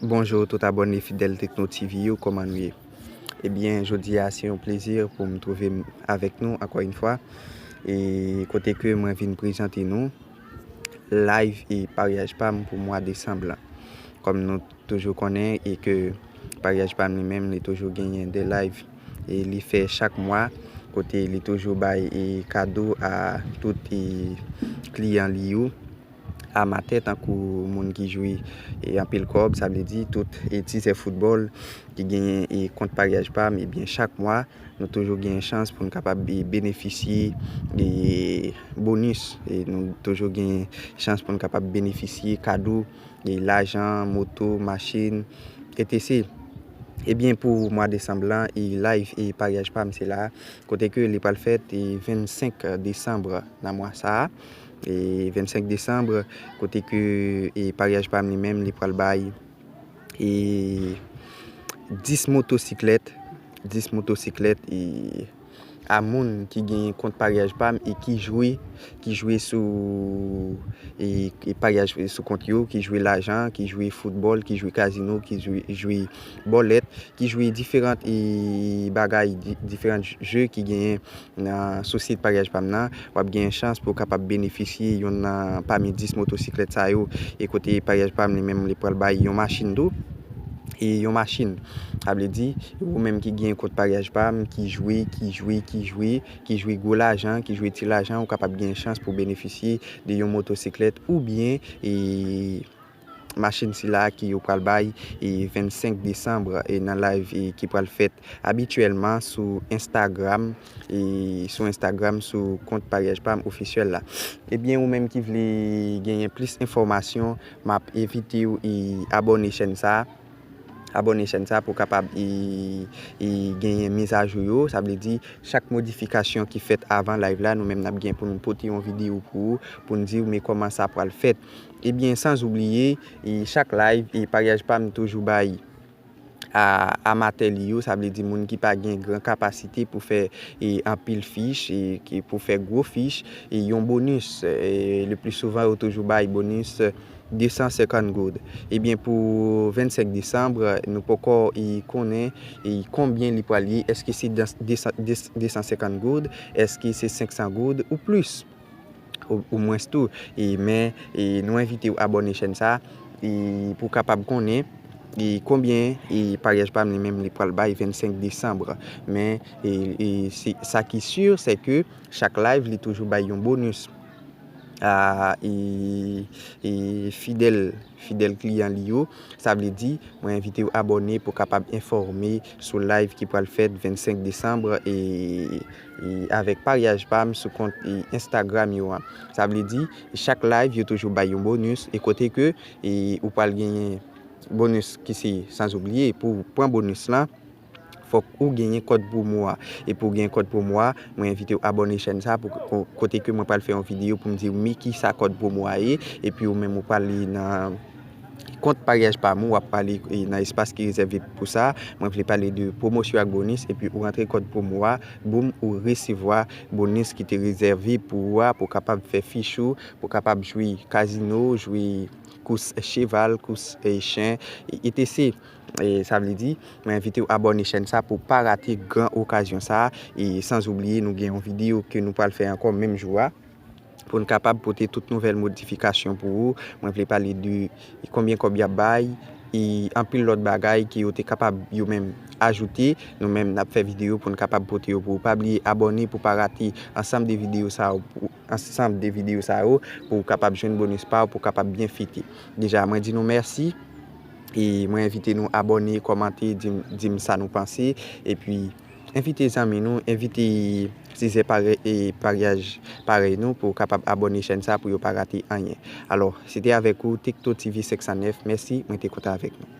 Bonjour tout abòne fidèl Tekno TV yo kòman nou ye ebyen jodi a se yon plezi pou m twouve m avèk nou ankò yon fwa e kote ke mwen vin prezante nou live e paryaj pa m pou mwa desanm lan kòm nou toujou konnen e ke paryaj pa m li menm li toujou genyen 2 live e li fè chak mwa kote li toujou bay e kado a tout e kliyan li yo. amatè tankou moun ki jwe anpil kòb, sa vle di tout tizè foutbòl ki genyen kont paryaj pa m, ebyen chak mwa nou toujou genyen chans pou nou kapab benefisye bonis, nou toujou genyen chans pou nou kapab benefisye kado, lajan, moto, machin, etc. Ebyen pou mwa desanm lan, live e paryaj pa m se la, kote ke li pral fèt 25 desanm nan mwa sa a, 25 décembre kote ke paryaj pam li menm li pral bay 10 motosiklèt 10 motosiklèt a moun ki gen kont paryaj pam e ki jwe ki jwe sou paryaj sou kont yo ki jwe lajan ki jwe foutbòl ki jwe kazino ki jwe bòlèt ki jwe diferant e bagay diferant jè ki gen Nan sou sit paryaj pa m nan, w ap genyen chans pou w kapab benefisye yonn nan pami 10 motosiklèt sa yo. E kote paryaj pa m li menm li pral bay yon machin tou. E yon machin. Sa vle di, ou menm ki genyen kont paryaj pa m, ki jwe, ki jwe, ki jwe, ki jwe gwo lajan, ki jwe ti lajan, ou kapab genyen chans pou w benefisye de yon motosiklèt oubyen e. Machin sila ki yo pral bay 25 desanm nan live ki pral fèt abityèlman sou Instagram sou Instagram sou kont paryaj pam ofisyèl la. Ebyen ou menm ki vle genyen plis enfòmasyon map envitew abòne chèn sa abòne chèn sa pou kapab genyen mizajou yo sa vle di chak modifikasyon ki fèt avan live la nou menm nap gen pou nou pote yon videyo pou ou poun diw men kòman sa pral fèt. Ebyen sans oubliye chak live paryaj pam toujou bay amatè li yo sa vle di moun ki pa gen gran kapasite pou fè anpil fich pou fè gwo fich yon bonus le pli souvan yo toujou bay bonus 250 goud ebyen pou 25 desanm nou poko konnen konbyen li pral ye eske se 250 goud eske se 500 goud ou plis. Ou mwens tou e men e nou envitew abòne chèn sa e pou kapab konnen e konbyen e paryaj pam li menm li pral bay 25 Decembre men e e se sa ki sur se ke chak live li toujou bay yon bonus a e e fidèl. Fidèl kliyan li yo, sa vle di, mwen envite w abòne pou kapab enfòme sou live ki pral fèt 25 Decembre e avèk paryaj pa m sou kont Instagram yo an. Sa vle di, chak live yo toujou bay yon bonus e kote ke ou pral genyen bonus ki se sanzoubliye pou pran bonus lan, fòk ou genyen kòd promo a e pouw gen kòd promo a mwen envitew abòne chèn sa pou kote ke mwen pral fè yon video poum diw mi kisa kòd promo a ye epi ou menm ou pral li nan kont paryaj pam ou wap pale nan espas ki rezève pou sa mwen vle pale de promosyon ak bonis epi ou rantre kòd promo a boum ou resevwa bonis ki te rezève pou ou a pou kapab fè fich ou pou kapab jwe kazino jwe kous cheval kous chen etc. Sa vle di, mwen envitew abòne chèn sa pou pa rate gran okazyon sa e sans oubliye nou gen yon video ke nou pral fè ankò menm jou a poun kapab pote tout nouvèl modifikasyon pou ou, mwen vle pale de konbyen kòb yap bay e anpil lòt bagay ke yo te kapab yo menm ajoute, nou menm nap fè video poun kapab pote yo pou ou. Pa bliye abòne pou pa rate ansanm de video sa yo. ansanb de video sa yo pouw kapab jwenn bonus paw pou kapab byen fete deja mwen di nou merci e mwen envite nou abòne kòmante dim sa nou panse epi envite zanmi nou envite tizè paryaj parèy nou pou kapab abòne chèn sa pou yo pa rate anyen alò se te avèk ou Tekno TV 509 merci mwen te kontan avèk nou.